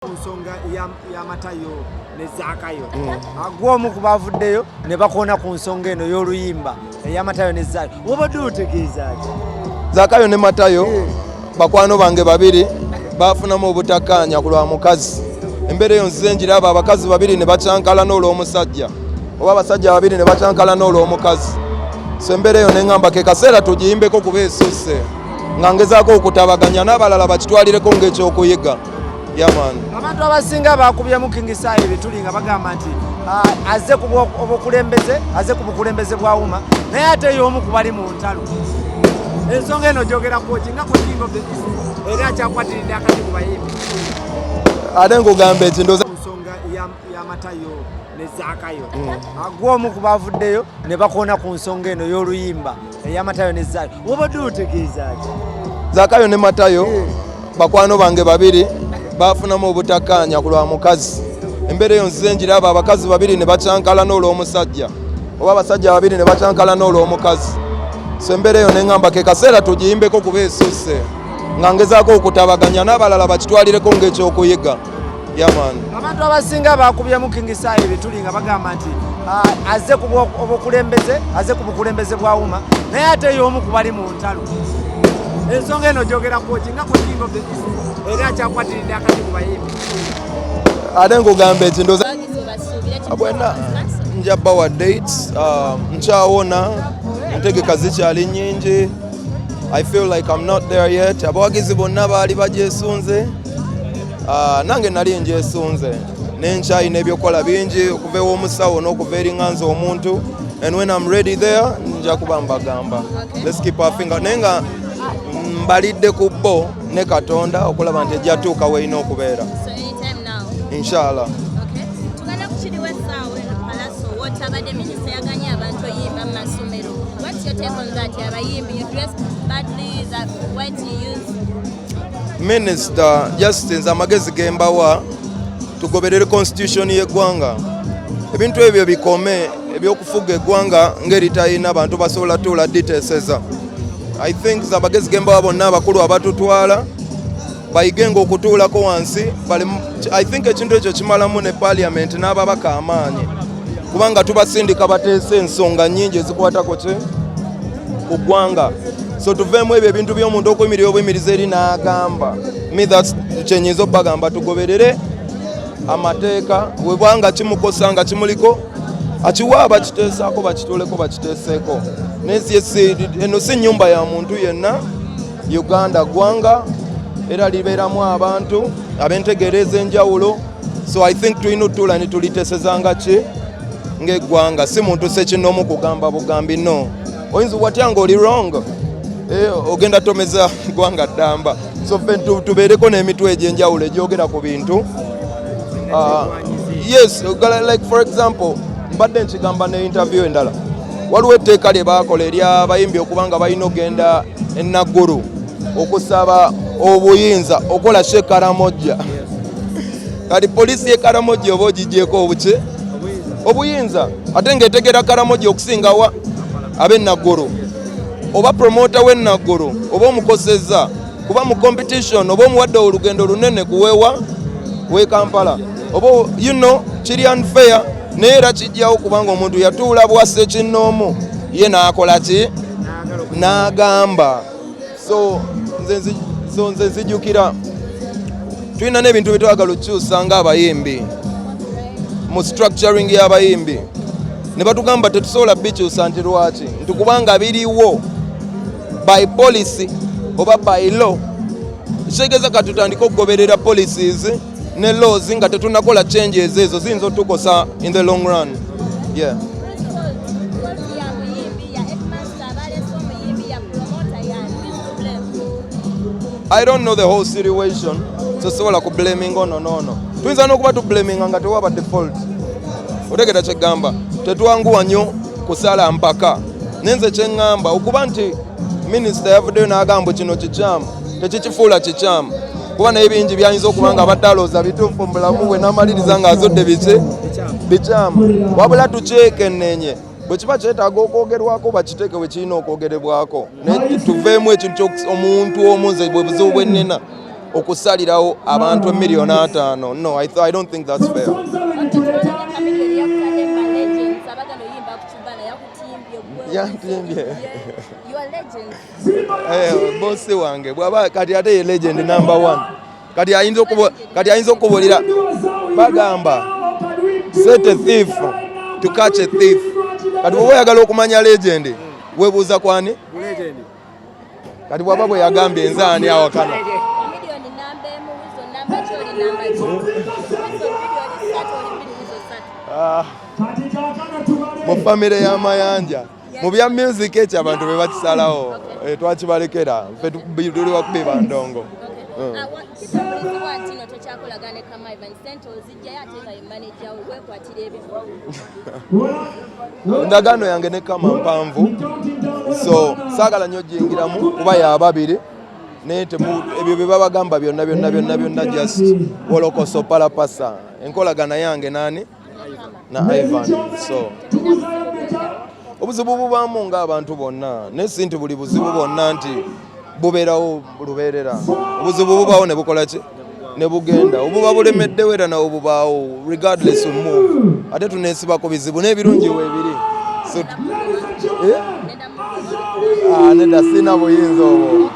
ku nsonga ya matayo ne zaakayo hmm. agw'omu ku baavuddeyo ne bakoona ku nsonga eno y'oluyimba eya matayo ne zaakayo wobadde otegeeza ki zaakayo ne matayo hmm. bakwano bange babiri baafunamu obutakkaanya ku lwa mukazi embeera eyo nzize njiraba abakazi babiri ne bacankalana olw'omusajja oba abasajja babiri ne bacankalana olw'omukazi so embeera eyo ne ŋŋamba ke kaseera tugiyimbeko kuba esusse nga ngezaako okutabaganya n'abalala bakitwalireko ng'ekyokuyiga abantu abasinga bakubyemu king sai ebituli nga bagamba nti ah, aze obukulembeze aze ku bukulembeze bwa uma naye ate yomu kubali mu ntalo ensonga eno gyogerakoki nga kukingo era akyakwatiridde akati ku bayimbi ate nkugamba eki ndoza nsonga yamatayo nezakayo mm. agwomu kubavuddeyo ne bakoona ku nsonga eno y'oluyimba eya matayo ne zakayo wabadde otegeezaki zakayo ne matayo eh. bakwano bange babiri bafunamu obutakkaanya ku lwa mukazi embeera eyo nzize njiraba abakazi babiri ne bakyankalana olw'omusajja oba abasajja babiri ne bakyankalana olw'omukazi so embeera eyo neŋamba ke kaseera tugiyimbeko kuba esusse nga ngezaako okutabaganya n'abalala bakitwalireko ng'ekyokuyiga abantu abasinga bakubyemu king sai ebituli nga bagamba nti ah, aze obukulembeze aze ku bukulembeze bwa wuma naye ate yomu kubali mu ntalo ensonga eno jogera kwoki nga kukinga of the era akyakwatiridde akati ku bayimbi ate nkugamba eki ndoza bwena nja bawa date ah, nkyawona entegeka zikyali nyingi i feel like i'm not there yet abawagizi bonna baali bagyesunze ah, nange nali njesunze nenkyayi n'ebyokukola bingi okuva ew'omusawo n'okuva eringanza omuntu and when I'm ready there nja kuba mbagamba let's keep our finger naye nga mbalidde ku bo ne katonda okulaba nti ejja tuuka weerina okubeera inshallah What your take on that? You're a you dress badly, that what you use Minister just nze amagezi gembawa tugoberere constitution y'eggwanga ebintu ebyo bikome ebyokufuga eggwanga ng'eritalina bantu basobola tuula diteseza i think zamagezi gembawa bonna abakulu abatutwala bayigenga okutuulako wansi i think ekintu ekyo kimalamu ne parliament n'ababaka amaanyi kubanga tubasindika bateese ensonga nyingi ezikwatako kye ku ggwanga so tuveemu ebyo ebintu by'omuntu okuyimirira obuyimiriza eri n'agamba me thats kyenyinza okubagamba tugoberere amateeka webwanga kimukosa nga kimuliko akiwa abakiteesaako bakituleko bakiteeseeko eno si nyumba ya muntu yenna uganda ggwanga era libeeramu abantu abentegeera ez'enjawulo so i think tulina otutuula ne tulitesezanga ki ng'eggwanga si muntu sekinoomu kugamba bugambi no oyinza watya nga oli wrong eh, ogenda tomeza ggwanga ddamba so fe tubeereko n'emitwe egy'enjawulo egyogera ku bintu ah, yes like for example mbadde nkigamba ne interview endala waliwo etteeka lye baakola eryabayimbi okuba nga balina okugenda enaggulu okusaba obuyinza okola shekaramojja kati poliisi ye karamogi oba ogigyeko obuki obuyinza ate ngaetegera karamogi okusingawa abenaggolo oba promota wenaggolo oba omukoseza kuba mu competition oba omuwadde olugendo lunene kuwewa we kampala oba you know kiri unfair naye era kijjawo kubanga omuntu yatuula bwasse kinnoomu ye n'akola ki n'agamba so nze so nze nzijukira tulina n'ebintu bye twagala okukyusa ng'abayimbi mu structuring y'abayimbi ne batugamba tetusobola bikyusa nti lwaki nti kubanga biriwo by policy oba by law kitegeeza ka tutandike okugoberera policies ne laws nga tetunakola changes ezo ziyinza otukosa in the long run yeah. I don't know the whole situation so sobola ku blaming ono noono tuyinza n'okuba tu blaming nga tewaba default otegera kyegamba tetwanguwa nnyo kusala mpaka nenze kyeŋŋamba okuba nti minisita yavuddeyo n'agamba kino kikyamu tekikifuula kikyamu kuba naye bingi byayinza okuba nga abadde alooza bituufu mu bulamu bwe n'amaliriza ng'azudde biki bikyamu wabula tukyekenenye bwe kiba kyetaaga okwogerwako bakiteeke we kirina okwogerebwako tuveemu ekintu omuntu omu nze bwe buzibu bwe nnina okusalirawo abantu emiliyoni ataano no I, I don't think that's fair yantimbye eh, bosi wange bwaba kati ate ye legend number one kati ayinza okubo kati ayinza okubolera bagamba set a thief to catch a thief kati bwoba oyagala okumanya legend webuuza kwani kati bwaba bwe yagambye enze ani awakana ah. mu famire y'amayanja mu bya music ekyo abantu be bakisalawo eh, twakibalekera ffe tuli bakubi ba ndongo mm. ah, endagaano yange ne kama mpanvu so saagala nnyo giyingiramu kuba yababiri naye ebyo bye babagamba byonna byonna byonna byonna just wolokoso palapasa enkolagana yange nani na Ivan so obuzibu bubaamu ng'abantu bonna naye si nti buli buzibu bwonna nti bubeerawo lubeerera obuzibu bubaawo ne bukola ki ne bugenda obuba bulemeddewo era nawo bubaawo regardless of move ate tuneesiba ku bizibu n'ebirungi weebiri so eh? ah, nedda sirina buyinza obwo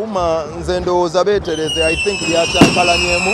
uma nze ndowooza beetereze i think lyakyankalanyemu